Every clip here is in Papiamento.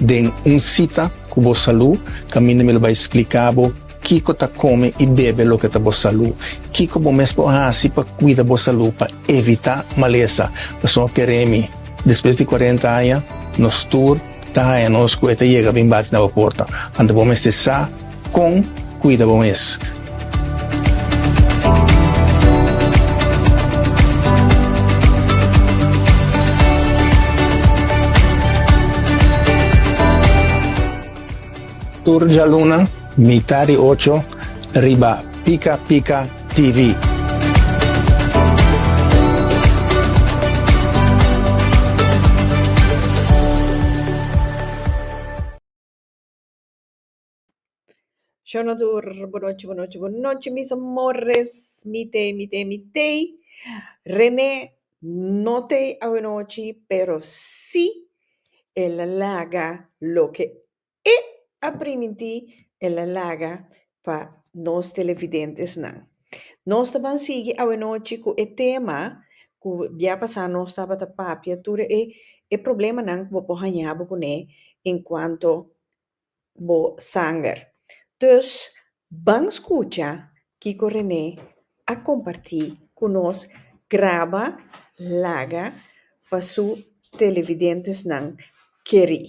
Den un sita ku bo salú, kaminda mi lo bai spliká bo kiko ta kome i bebe loke ta bo salú. Kiko bo mes por hasi pa kuida bo salú pa evitá malesa? Pasobra keremi, despues di kuarenta aña, nos tur ta haña nos ku e ta yega bin bati na bo porta. Anto bo mester sa. Con cuida bo mes. Tur djaluna mitá di ocho riba Pica Pica TV. Shonodur, bu nochi, bu nochi, bu nochi mis amores, mi t'ei, mi t'ei, mi t'ei, Renee no t'ei awanochi pero si el a laga loke e a primintí el a laga pa nos televidentesnan. Nos ta ban sigui awanochi cu e tema cu bia pasá nos tabata papia tur e problemanan cu bo por hañabo cuné en cuanto bo sanger. Dus ban skucha kiko René a kompartí ku nos graba laga pa su televidentesnan kerí.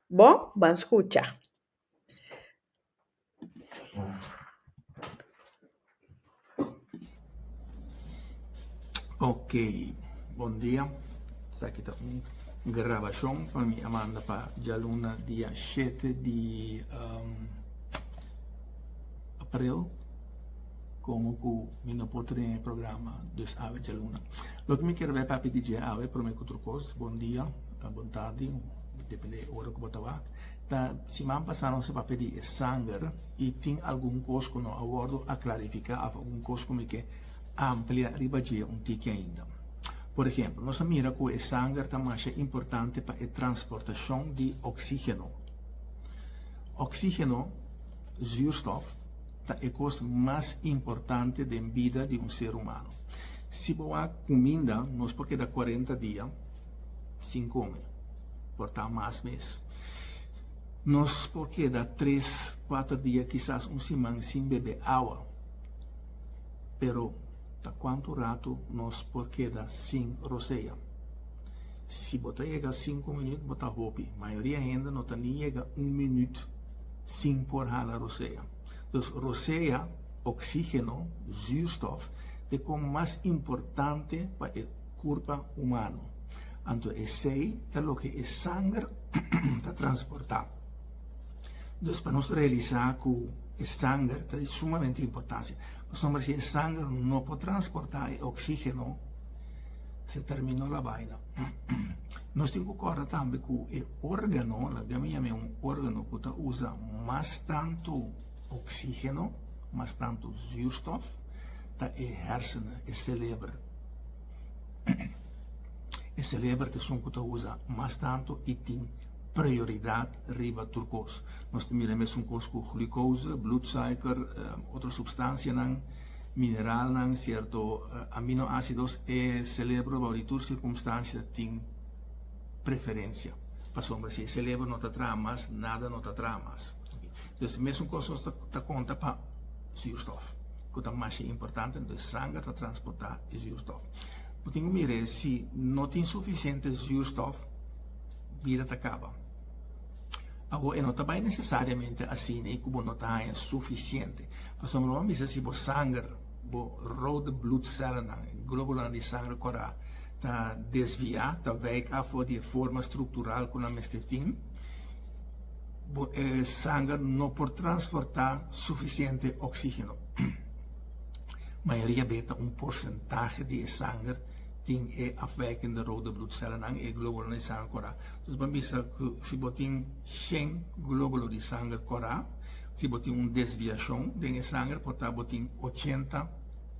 Bon, ban skucha. Ok bon dia esaki ta un grabashon pa mi a manda pa djaluna dia shete di april komo ku mi no por tene e programa dus awe djaluna loke mi kere bai papia di dje awe prome ku tur kos bon dia bon tardi depende ora ku bo ta wak. Ta siman pasá nos a pedí e sanger i tin algun kos ku no a wòrdu a klarifiká òf algun kos ku mi ke amplia riba dje un tiki ainda. Por ehempel, nos a mira ku e sanger ta masha importante pa e transportashon di oksígeno. Oksígeno, zuurstof, ta e kos mas importante den bida di un ser humano. Si bo wak kuminda, nos por keda kuarenta dia sin come por ta mas mes. Nos por keda tres, kuater dia, kisas un siman sin bebe awa. Pero ta kuantu ratu nos por keda sin rosea? Si bo ta yega sinku minüt bo ta hopi. Mayoria hende no ta ni yega un minüt sin por hala rosea. Dus rosea, oksígeno, zùrstòf, t'e kon mas importante pa e Curpa humano. Anto esey ta loke e sanger ta transporta. Dus pa nos realisa cu e sanger ta di sumamente importancia. Pasobra si e sanger no por transporta e oxigeno se termino la baina. Nos tin cu corda tambe cu e organo, laga mi yam'e un organo cu ta usa mas tanto oxigeno, mas tanto zuurstof ta e hersenen, e celebr. E celebra ta esun cu ta usa mas tanto y tin prioridad riba tur cos. Nos ta mira mesun cos cu glucose, bloedsuiker, otro substancianan, mineralnan, cierto aminoacidos. E celebra bou di tur circumstancia tin preferencia. Pasobra si e celebra no ta traha mas, nada no ta traha mas. Mesun cos nos ta conta pa. Zuurstof, ku ta masha importante, entonces e sanger ta transportá e zuurstof. Bo tin ku mira e si no tin sufisiente zuurstof, bida ta kaba. Awor e no ta bai nesesariamente asina ku bo no ta haña sufisiente. Pasobra bo lo ban bisa si bo sanger, bo rode bloedsellennan, e globulonan di sanger kòrá, ta desviá, ta wijk af for di e forma struktural ku nan mester tin, Bo e sanger no por transportá sufisiente oksígeno. Mayoria beta un porsentahe di e sanger tin e afwèking di rode blutsellennan, e glóbulo di sanger korá. Dus bo a bisa ku si bo tin shen glóbulo di sanger korá, si bo tin un desviashon den e sanger por ta bo tin ochenta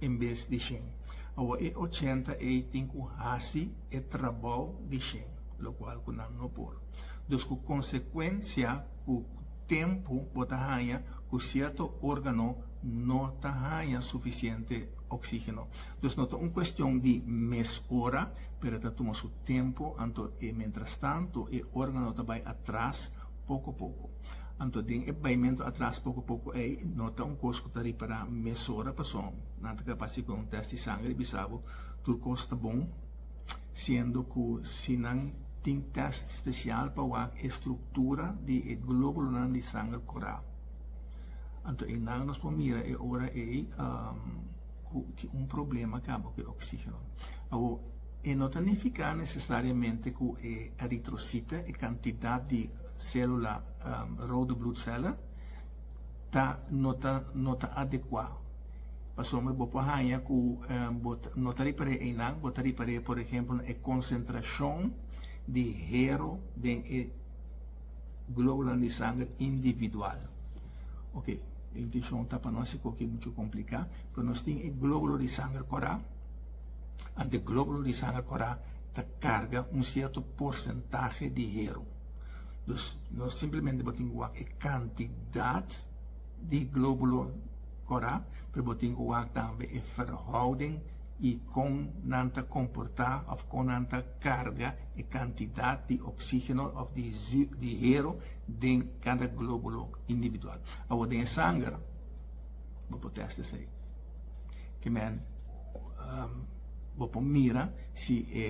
en bes di shen. Awo e ochenta ei tin ku hasi e trabou di shen, lokual ku nan no por. Dus ku konsekuensia ku tempu bo ta haña ku sierto órgano no ta haña sufisiente oksígeno. Dus no ta un kuestion di mes ora, pero e ta tuma su tempu, anto e mentrastantu e órgano ta bai atras poko poko. Anto den e baimentu atras poko poko ei no ta un kos ku ta ripará mesora pasobra nan ta kapaz di ku un tèst di sangre bisa bo tur kos ta bon. siendo cu si nan tin test special pa wak e structura di e globulonan di sanger cura. Anto einan nos por mira e ora ei cu tin un problema caba cu e oxigeno. Awor, e no ta nifica necesariamente cu e eritrocito, e cantidad di celula rode bloedcellen, ta no ta no ta adekua pasobra bo por haña ku bo no ta ripar'é einan bo ta ripar'é por ehempel na e konsentrashon di hero den e globulan di sanger individual oke e intishon ta pa no hasi koki muchu kompliká pero nos tin e globulo di sanger kòrá ante globulo di sanger kòrá ta karga un sierto porsentahe di hero. Dus no simplemente bo tin ku wak e kantidat di globulo kora, pero bo tin ku wak tambe e verhouding i kon nan ta komportá òf kon nan ta karga e kantidat di oksígeno òf di hero den kada globulo individual. Awor den e sanger bo por tèst esei. Ke men, bo por mira si e.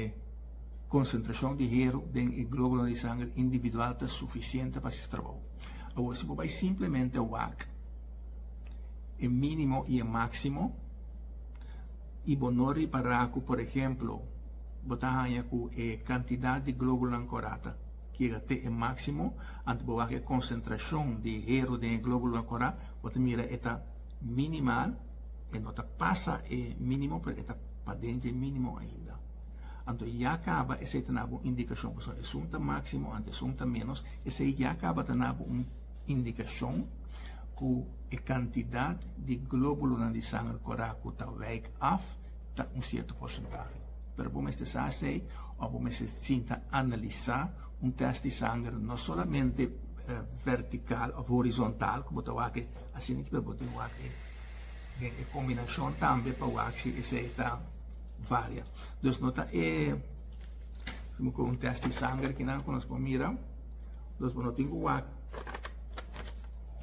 Konsentrashon di heru den e glóbulo di sanger individual ta sufisiente pa hasi trabou. Awor si bo bai simplemente wak e mínimo i e máksimo i bo no ripará ku por ehemplo bo ta haña ku e kantidat di glóbulonan korá-ta yega te e máksimo anto bo wak e konsentrashon di heru den e glóbulonan korá bo ta mira e ta minimal e no ta pasa e mínimo pero e ta paden dje mínimo ainda. Anto ya kaba esei ta nabo un indikashon pasobra esun ta máksimo anto esun ta ménos esei ya kaba ta nabo un indikashon ku e kantidat di glóbulunan di sanger kòrá ku ta wijk af ta un sierto porsentahe pero bo mester sa esei òf bo mester sinta analisá un tèst di sanger no solamente vèrtikal òf horizontal ku bo ta wak asina pero bo tin wak den e kombinashon tambe pa wak si esei ta. varia. Dus no ta e como cu un test di sanger aquí nan cu nos por mira. Dus bo no tin cu wak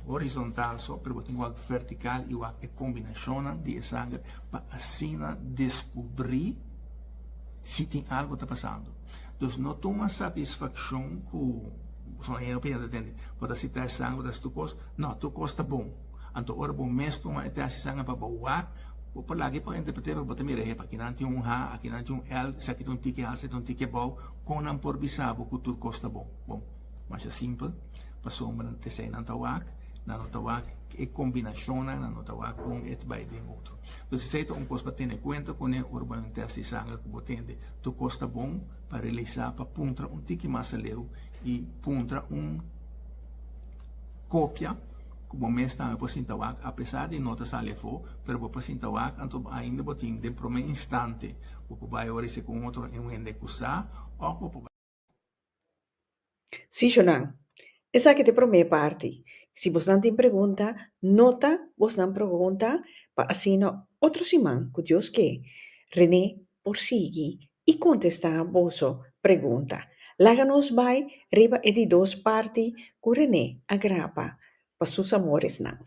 horizontal so, pero bo tin cu wak vertical y wak e combinacionnan di e sanger pa asina descubri si tin algo ta pasando. Dus no tuma satisfaccion cu bo ta tende bo ta sita e sanger bo ta hasi tur cos, no, tur cos ta bon. Anto ora bo mes tuma e test esaki pa bo wak, bo por laga e pa un interpreter pa bo ta mira, ehepa, akinan tin un ha, akinan tin un el, esaki ta un tiki alsa, esaki ta un tiki abou, kon nan por bisa bo ku tur kos ta bon? Bon, masha simpel, pasobra nan test einan ta wak, nan no ta wak e kombinashonnan, nan no ta wak kon e ta bai den otro. Entonces esei ta un kos pa tene kuenta kuné ora bo na un test di sanger ku bo tende tur kos ta bon pa realisá, pa puntra un tiki mas aleu i puntra un kopia. ku bo mes tambe por sinta wak apesar di no ta sali afó, pero bo por sinta wak anto ainda bo tin den promé instante bo por bai oris'é ku un otro un hende ku sa òf bo por bai. Sí, Shunan. Esaki ta e promé parti. Si bosnan tin pregunta, nota bosnan pregunta pa asina otro siman, ku Dios ke, René por sigui i kontestá boso pregunta. Laga nos bai riba e di dos parti ku René a grapa pa sus amoresnan.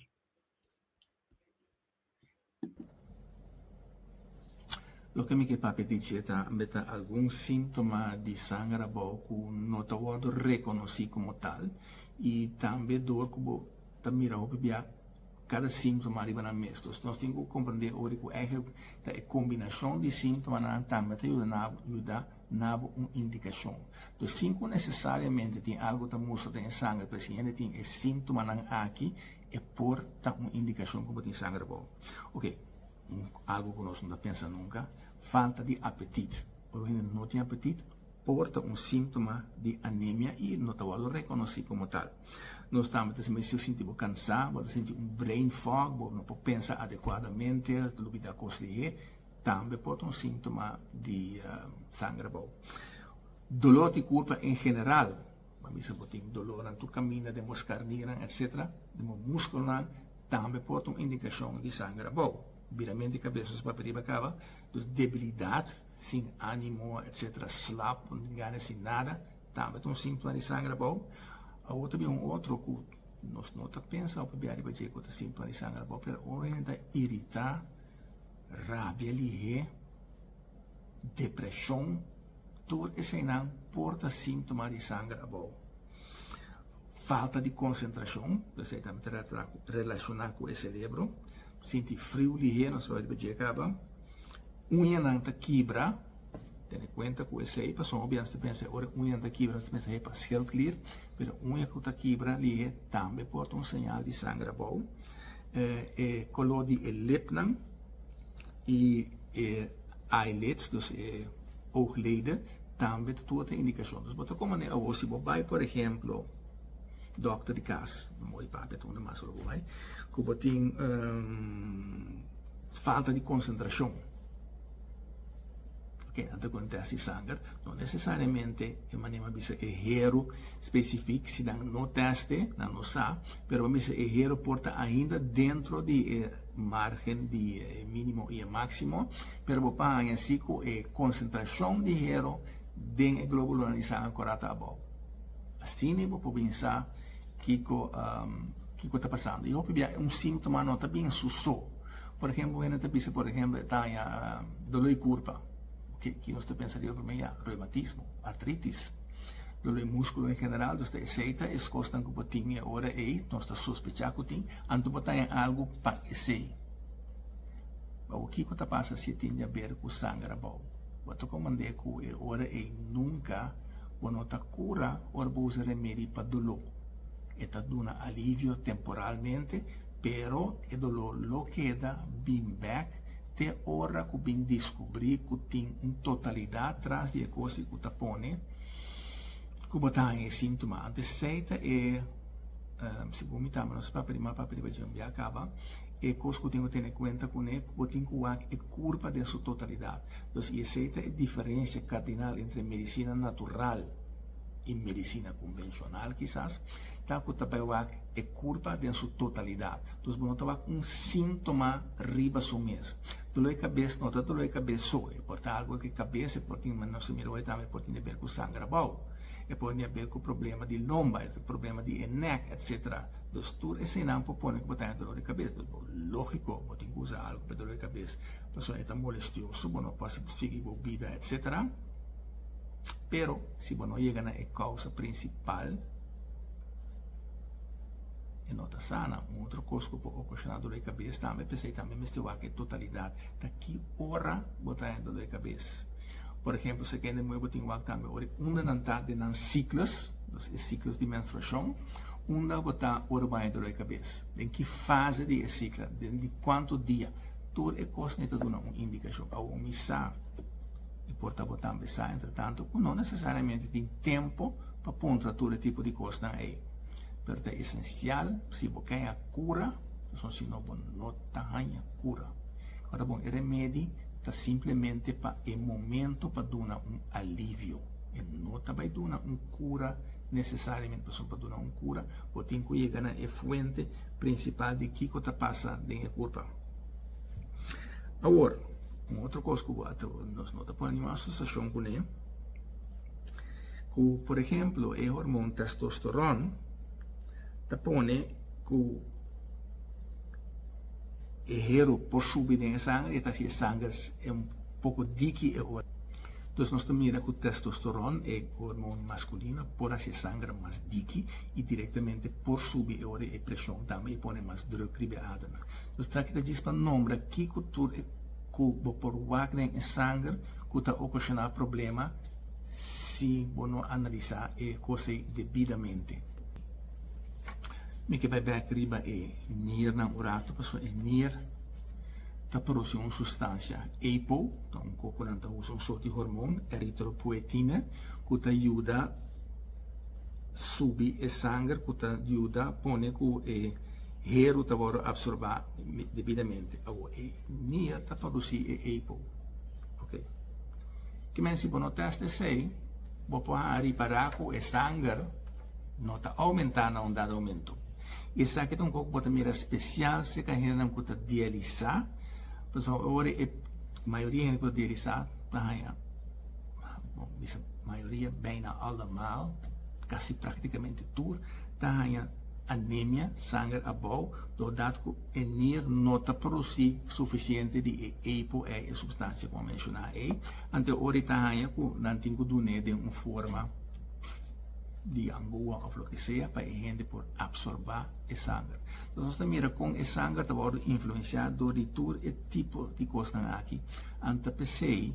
Loke mi ke papia dici e ta, Be ta algun síntoma di sanger abou ku no ta wòrdu rekonosí komo tal, i tambe dor ku bo ta mira hopi bia Kada síntoma riba nan mes. Entonces nos tin ku komprendé ora di ku èiglek ta e kombinashon di síntomanan tambe ta yuda nan yuda nabo un indikashon. Entonces sin ku nesesariamente tin algu ku ta mustra den e sangre pero si hende tin e síntomanan aki e por ta un indikashon ku bo tin sangre abou. Oke un algu ku nos no ta pensa nunka falta di apetit. Ora un hende no tin apetit por ta un síntoma di anemia i no ta wòrdu rekonosí komo tal. Nos tambe ta simbra si bo sinti bo kansá, bo ta sinti un brain fog, bo no por pensa adekuadamente, ta lubidá kos lihé, tambe por ta un síntoma di sanger bou. Dolor di kurpa en general, pa misa bo tin dolornan tur kaminda den bo skarninan etcétera, den bo múskulonan, tambe por ta un indikashon di sanger bou. Biramento di kabes nos papia riba kaba, dus debilidat, sin ánimo etcétera, slap, no tin gana di hasi nada. Tambe ta un simptoma di sanger abou. Awor ta bin un otro cu nos no ta pensa un pabia riba dje cu ta simptoma di sanger abou, pero un hende ta irita, rabia lihé, depresion, tur eseinan por ta simptoma di sanger abou. Falta di concentracion, esei tambe ta relaciona cu e cerebro. Sinti friu lihé, nos a wak riba dje caba. Uñanan ta kibra, tene kuenta ku esei pasobra bianas ta pensa ora e uñanan ta kibra nos ta pensa he parsial klir, pero uña ku ta kibra lihe tambe por ta un señal di sangre abou. E koló di e lipnan i e eyelids, dus e oogleden, tambe ta tur ta indikashon. Dus bo ta kon manera awor si bo bai por ehemplo dòkter di kas, mama i pape ta unda mas ora bo bai, ku bo tin. Falta di konsentrashon. Ken a ta kon tèst di sanger no nesesariamente e manera mi a bisa e hero spesifik si nan no tèst'e nan no sa, pero mi a bisa e hero por ta ainda dentro di e margen di e minimo i e maksimo, pero bo por haña si ku e konsentrashon di hero den e globulunan di sanger kòrá ta abou. Asina bo por bin sa. Kiko kiko ta pasando y hopi bia un sintoma no ta bin su so por ehemplo un hende ta bisa por ehemplo e taña dolo di kurpa ke ki nos ta pensa riba prome ya reumatismo artritis dolo di muskulo en general dus ta esei ta es kosnan ku bo tin e ora ei nos ta sospecha ku tin anto bo taña algu pa esei awo kiko ta pasa si tin di haber ku sanger abou bo ta komand'e ku e ora ei nunka. Bo no ta cura ora bo usa remedi pa doló. E ta duna alivio temporalmente, pero e doló lo keda bin bek te ora cu bin discubri cu tin un totalidad tras di e cosnan cu ta pone cu bo ta haña e sintoma. Anto esei ta e, segun mi tamba nos papiriman papiriba djembiá caba. E kos ku tin ku tene kuenta kuné, bo tin ku wak e kurpa den su totalidat. Entonces, i esei ta e diferensia kardinal entre medisina natural i medisina konvenshonal kisas, ta ku ta bai wak e kurpa den su totalidat. Entonces, bo no ta wak un síntoma riba su mes. Duló e kabes no ta duló e kabes so, e por ta algu di kabes, e por tin, manera nos a mira hoy tambe, e por tin di aber ku sangra abou, e por tin di aber ku problema di lomba, problema di e nèk, etcétera. Entonces tur esenan por pone cu bo ta haya dolor di cabes. Entonces bo logico bo tin cu usa algo pa e dolor di cabes pasobra e ta molestioso, bo no por haci bo sigui bo bida etc. Pero si bo no yega na e causa principal e no ta sana. Un otro cos cu por ocasiona dolor di cabes tambe, p'esei tambe mester wak e totalidad ta ki ora bo ta haya dolor di cabes. Por ehempel, se kende nuevo tin wak tambe ora unda nan ta den nan ciclus, dus e ciclus di menstruacion, unda bo ta ora bo a haña dolor di cabes, den ki fase di e cicla, den di cuantu dia, tur e cosnan ta duna un indicacion. Awor mi sa, y por ta bo tambe sa entretanto, cu no necesariamente tin tempo pa puntra tur e tipo di cosnan ey, pero ta esencial si bo ke haña cura, pasobra si no bo no ta haña cura. Ora bon, e remedi. Ta simplemente pa e momento pa duna un alivio. E no ta bai duna un cura necesariamente pasobra pa duna un cura bo tin cu yega na e fuente principal di kico ta pasa den e curpa. Awor, un otro cos cu bo a ta nos no ta pone ningún asociacion cu ne, cu por ejemplo e hormon testosteron ta pone cu. E hero por shubi den e sanger y ta haci e sanger e un poco diki e ora. Entonces nos ta mira cu testosteron, e hormon masculino, por haci e sanger mas diki y directamente por subi e ora y e presion tambe y pone mas druk riba e ademnan. Entonces esaki ta djis pa nombra kico tur e cu bo por wak den e sanger cu ta ocasiona problema si bo no analisa e cosey debidamente. Mi ke bai bek riba e niernan un ratu pasobra e nier ta produsi un sustansia apo, ta un koko nan ta usa un sort di hormon eritropoetina ku ta yuda subi e sanger ku ta yuda pone ku e heru ta wòrdu apsorbá debidamente. Awor e nier ta produsi e apo, ok. Kimen si bo no tèst esei bo por hanga ripará ku e sanger. No ta oumentá na un dado momentu. I esaki ta un kos ku bo ta mira spesial serka e hendenan ku ta dialisá, pasobra ora e mayoria hende ku ta dialisá ta haña, bo bisa mayoria, beina allemaal, kasi praktikamente tur, ta haña anemia, sanger abou, dor dat ku e nier no ta produsí sufisiente di e epo ei, e supstansia ku a menshoná ei. Anto ora e ta haña ku nan tin ku dun'é den un forma. di Angoa of loke sea pa e hende por absorba e sanger. So nos ta mira con e sanger ta wordo influencia door di tur e tipo di cosnan aki and ta pesey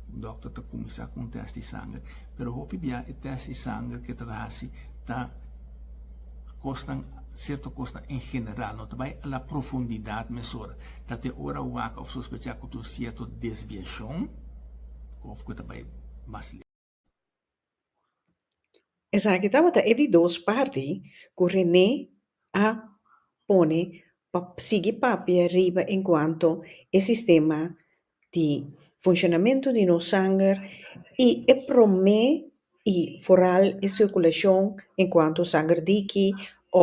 dokter ta cuminsa cu un test di sanger pero hopi bia e test di sanger ke ta haci ta cosnan cierto cosnan en general no ta bay a la profundidad mesora ta te ora wak of sospecha cu ta un cierto desviacion of cu ta bay mas lejos. Esaki tabata e di dos parti ku Renee a pone pa sigui papia riba en kuantu e sistema di funshonamentu di nos sanger i e promé i foral e sirkulashon en kuantu sanger diki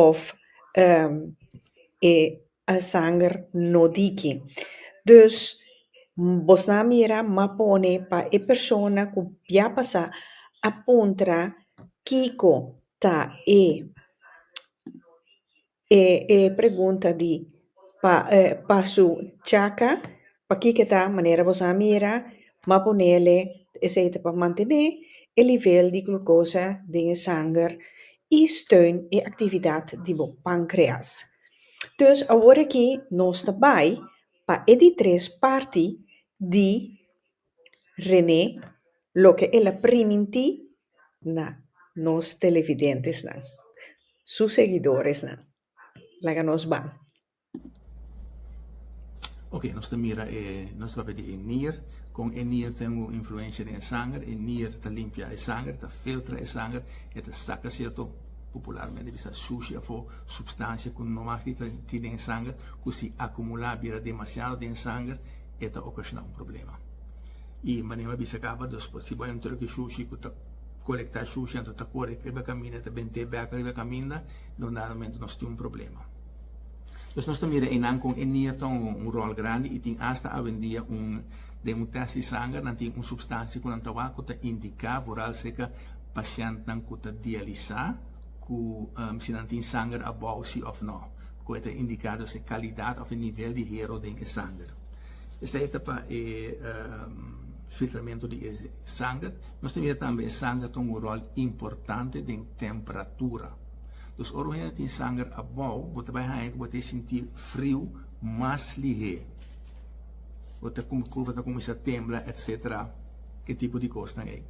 of e. a sanger no diki. Dus bos nan a mira m'a pone pa e persona ku bia pasa a puntra kiko ta e e pregunta di pa pa su chaka Pakico ta manera boso a mira ma ponele esey ta pa mantene e nivel di glucosa den e sanger y steun e actividad di bo pancreas. Dus awor aki nos ta bay pa e di tres parti di Rene loke el a priminti na nos televidentesnan, su seguidoresnan. Laga nos bay. Ok nos ta mira e nos ta papia di e nier con e nier ta tin un influencia den e sanger e nier ta limpia e sanger ta filtra e sanger e ta saca cierto popularmente bisa sushi afo substancia cu no mas kita tin den e sanger cu si acumula bira demasiado den e sanger e ta ocasiona un problema y manera mi a bisa caba dos si bo hay un truck di sushi cu ta colecta sushi anto ta cori riba caminda ta bente bek riba caminda nos tin un problema. Pues nos ta mira einan con e nier ta un rol grandi y tin hasta awendia den un test di sanger nan tin un substancia cu nan ta wak cu ta indica vooralzeker pacientnan cu ta dialisa cu si nan tin sanger abao si of no cu e ta indica dus e calidad of e nivel di hero den e sanger. Esey ta pa e filtramento di e sanger. Nos ta mira tambe e sanger ta un rol importante den temperatura. Dus ora bo hende ta tin sanger abou, bo ta bai haña ku bo ta e sinti friu mas lihé. Bo ta kurpa ta kuminsá tembla etc. E tipo di kosnan ei.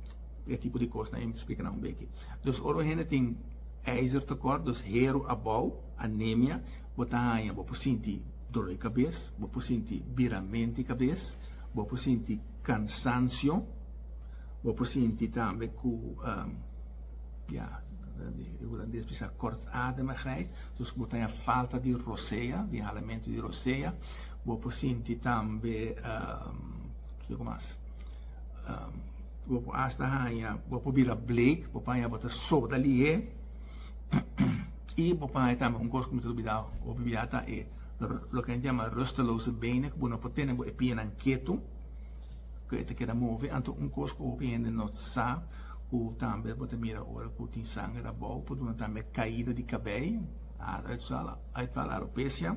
E tipo di kosnan ei mi ta splika nan un beki. Dus ora un hende tin ijzertekort, dus heru abou, anemia, bo ta haña bo por sinti dor di kabes, bo por sinti biramento di kabes, bo por sinti kansansio, bo por sinti tambe ku. Ya, di hulandes bisa kortademigheid, dus ku bo ta den falta di rosea, di inhalamentu di rosea, bo por sinti tambe, kiko mas, bo por hasta haña, bo por bira bleek, bo por haña bo ta soda lihé, i bo por haña tambe un kos ku mi ta olbidá, olbidá ta e loke nan yama rusteloze benen, ku bo no por tene bo e piénan ketu. ku e ta keda move anto un kos ku hopi hende no sa ku tambe bo ta mira ora ku tin sanger abou por duna tambe kaida di kabei eventual alopecia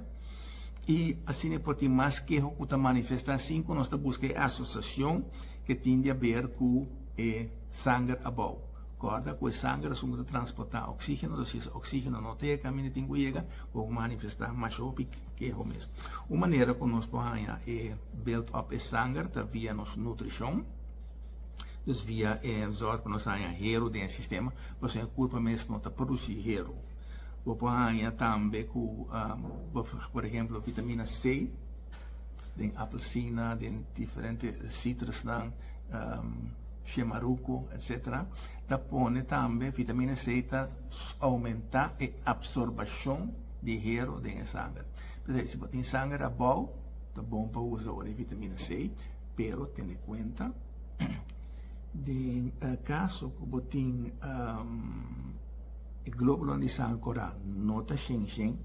y asina por tin mas keho ku ta manifesta sin ku nos ta buska e asosiashon ke tin di haber ku e sanger abou kòrda ku e sanger asun bo ta transporta oksigeno entonces si e oksigeno no ta yega kaminda tin ku yega por manifesta masha hopi. Keho mes. Un manera ku nos por haña e build up e sanger ta via nos nutrishon. Dus via e zòrg ku nos haña heru den e sistema, pasobra e kurpa mes no ta produsí heru. Bo por haña tambe ku por ehemplo vitamina C den apelsina, den diferente sitrusnan, shemaruko etsetera. Ta pone tambe, vitamina C ta oumentá e apsorbashon. di hero den e sanger. P'esei si bo tin sanger abou, ta bon pa usa ora e vitamina C, pero tene kuenta den e kaso ku bo tin e globulonan di sanger ku ta no ta shen shen,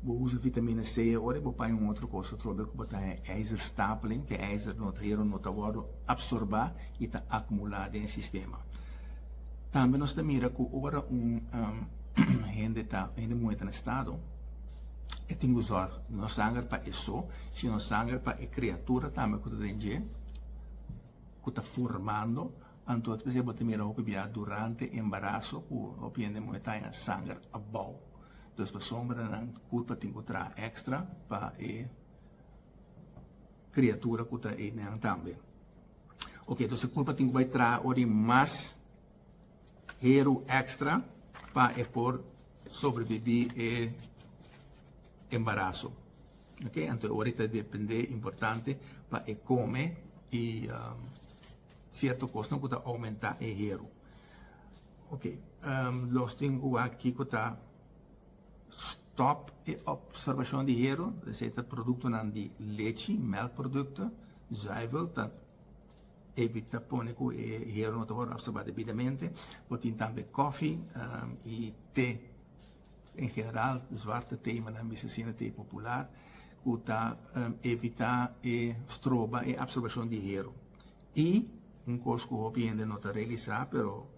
bo usa vitamina C ora i bo paña un otro kos atrobe ku bo ta haña ijzerstapling, ku e ijzer no ta hero, no ta wòrdu apsorbá i ta akumulá den e sistema. Tambe nos ta mira ku ora un. hende ta hende muhé ta na estado e tin ku zòrg no sanger pa e so sino sanger pa e kreatura tambe ku ta den dje ku ta formando anto espe si bo ta mira hopi bia durante e embaraso ku hopi hende muhé ta haña sanger abou dus pasobra nan nan kurpa tin ku traha èkstra pa e kreatura ku ta ei nenan tambe oke dus e kurpa tin ku bai traha ora di mas. Heru extra pa e por sobrebibi e embaraso. Ok, anto ora e ta depende importante pa e come y cierto cosnan cu ta aumenta e heru. Ok, los tin ua kico ta stop e observacion di heru, esey ta productonan di lechi, melkproducto, zuivel ta. David ta pone cu e hierro no ta wor absorba debidamente. Bo tin tambe cofi y te. En general zwarte te y manera mi asina te popular cu ta evita e stroba e absorbacion di hierro. Y un cos cu hopi hende no ta realisa pero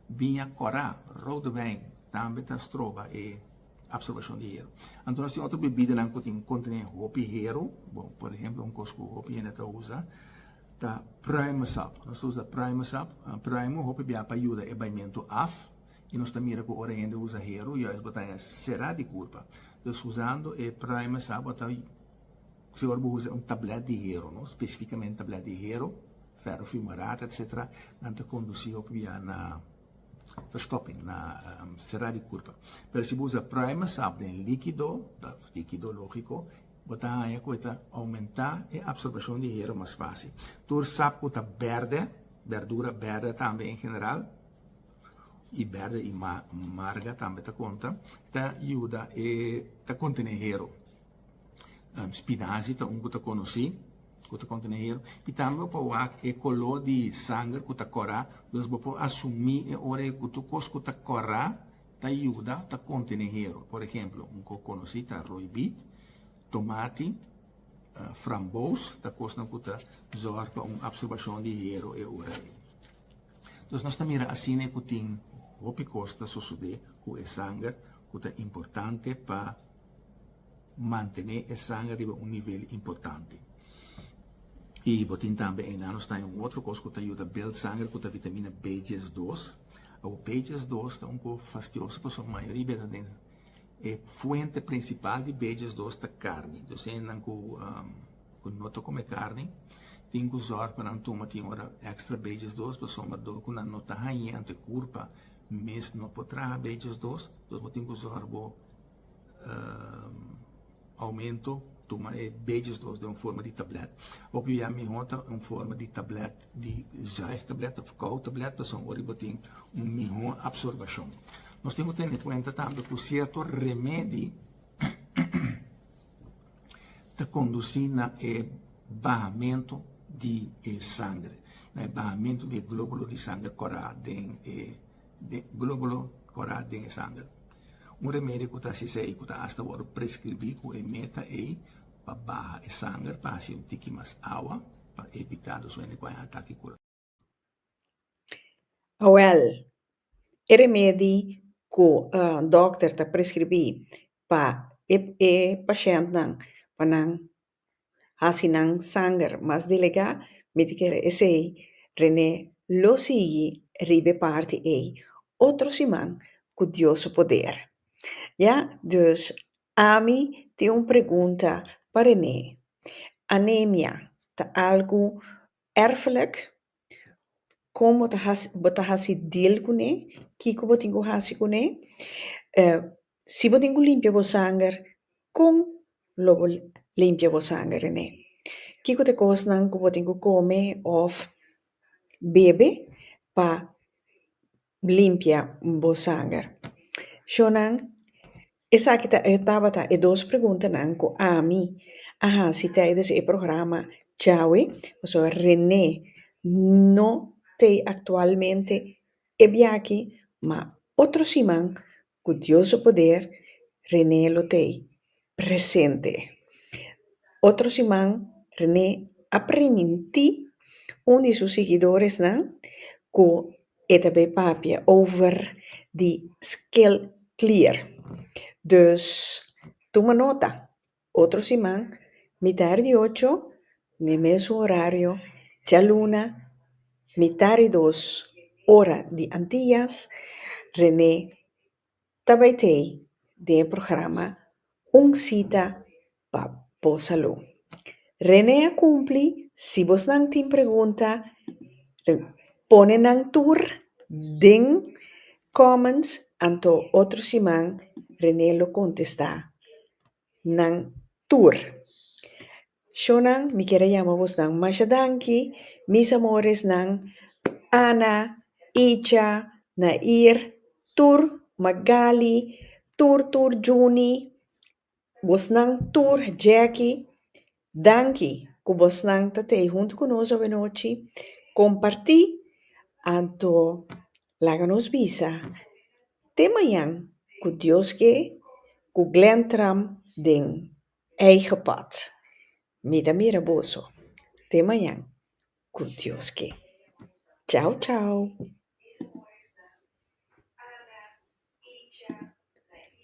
biña cora, rode wijn, tambe ta stroba e. Absorbashon di hero. Anto nos tin otro bebidanan ku tin kontené hopi hero. Bon, por ehempel un kos ku hopi hende ta usa ta Primusab. Nos ta usa Primusab. Primu hopi bia pa yuda e baimentu af i nos ta mira ku ora hende usa hero ya es bo ta haña será di kurpa. Dus usando e Primusab bo ta segur bo usa un tablèt di hero, no spesifikamente tablèt di hero, fèro fimará, etcetera nan ta kondusí hopi bia na. Verstopping na será di kurpa. Pero si bo usa primer sap den likido, ta likido logiko, bo ta haña ku e ta oumentá e apsorbashon di hero mas fasi. Tur sap ku ta bèrdè, bèrdura bèrdè tambe en general, i bèrdè i marga tambe ta konta, ta yuda e ta kontené hero. Spinazi ta un ku ta konosí ku ta kontaminá i tambe pa wak e koló di sanger ku ta kora. Pues bo por asumí e ora ei ku tur kos ku ta kora ta yuda ta kontene hero. Por ehemplo un ku konosí ta roibit, tomati, frambous ta kosnan ku ta zòrg pa un apsorbashon di hero e ora ei. Pues nos ta mira asina ei ku tin hopi kos ta sosodé ku e sanger ku ta importante pa. Mantené e sanger riba un nivel importante. I bo tin tambe enanos ta un otro kos ku ta yuda build sanger ku ta vitamina B-dies dos. Awor B-dies dos ta un kos fastioso pasobra mayoria bes nan den e fuente prinsipal di B-dies dos ta karni. Entonces esei nan ku no ta kome karni tin ku zòrg pa nan tuma tin ora extra B-dies dos pasobra dor ku nan no ta haña anto e kurpa mes no por traha B-dies dos. Bo tin ku zòrg bo. aumento tuma e beges los den un forma di tablet hopi ya miho ta un forma di tablet di zaig tablet of kou tablet pasobra ora bo tin un miho absorbashon nos tin ki tene kuenta tambe ku sierto remedi ta kondusi na e bahamento di e sangre na e bahamento di e globulo di sangre kora den e globulo kora den e sangre Un remedio cu ta haci esey, cu ta hasta wordo prescribi cu e meta ey pa baha e sanger, pa haci un tiki mas awa, pa evita dos wende cu a ataki curacion. Awel, e remedi cu dokter ta prescribi pa e pashentnan pa nan hasi nan sanger mas delegá, mi ta kere esei René lo sigui riba e parti ei otro siman ku Dios su poder. Ya, dus ami tin un pregunta pa René, anemia ta algu Erfelijk, kon bo ta hasi bo ta hasi deal kuné, kiko bo tin ku hasi kuné, si bo tin ku limpia bo sanger kon lo bo limpia bo sanger en'é, kiko ta e kosnan ku bo tin ku kome òf bebe pa N limpia bo sanger. Shonnan, Esaki ta e tabata e dos preguntanan ku ami a hasi tèidens e programa Chawe, pasobra Renee no t'ei aktualmente e biaki, ma otro siman, Ku Dios su poder, René lo t'ei. Presente. Otro siman René a primintí un di su sigidoresnan ku e ta bai papia over di scale clear. Dus tuma nota. Otro siman, mitar di ocho, n'e mesun horario, djaluna, mitar di dos, ora di Antillas, René ta bai tei den e programa Un Cita pa Bo Salú. René a cumpli, si bosnan tin pregunta, pone nan tur den comments, anto otro siman René lo contesta. nan tur. Shownan mi kier a yama bosnan masha danki mis amoresnan Ana, Icha, Nair, tur Magali, tur tur Juni, bosnan tur Jackie Danki ku bosnan ta tei huntu ku nos awenochi kompartí. Anto laga nos bisa te mañan ku Dios ke ku Glen Tram den eigen pòt. Mi ta mira boso te mañan ku Dios ke. Chau chau.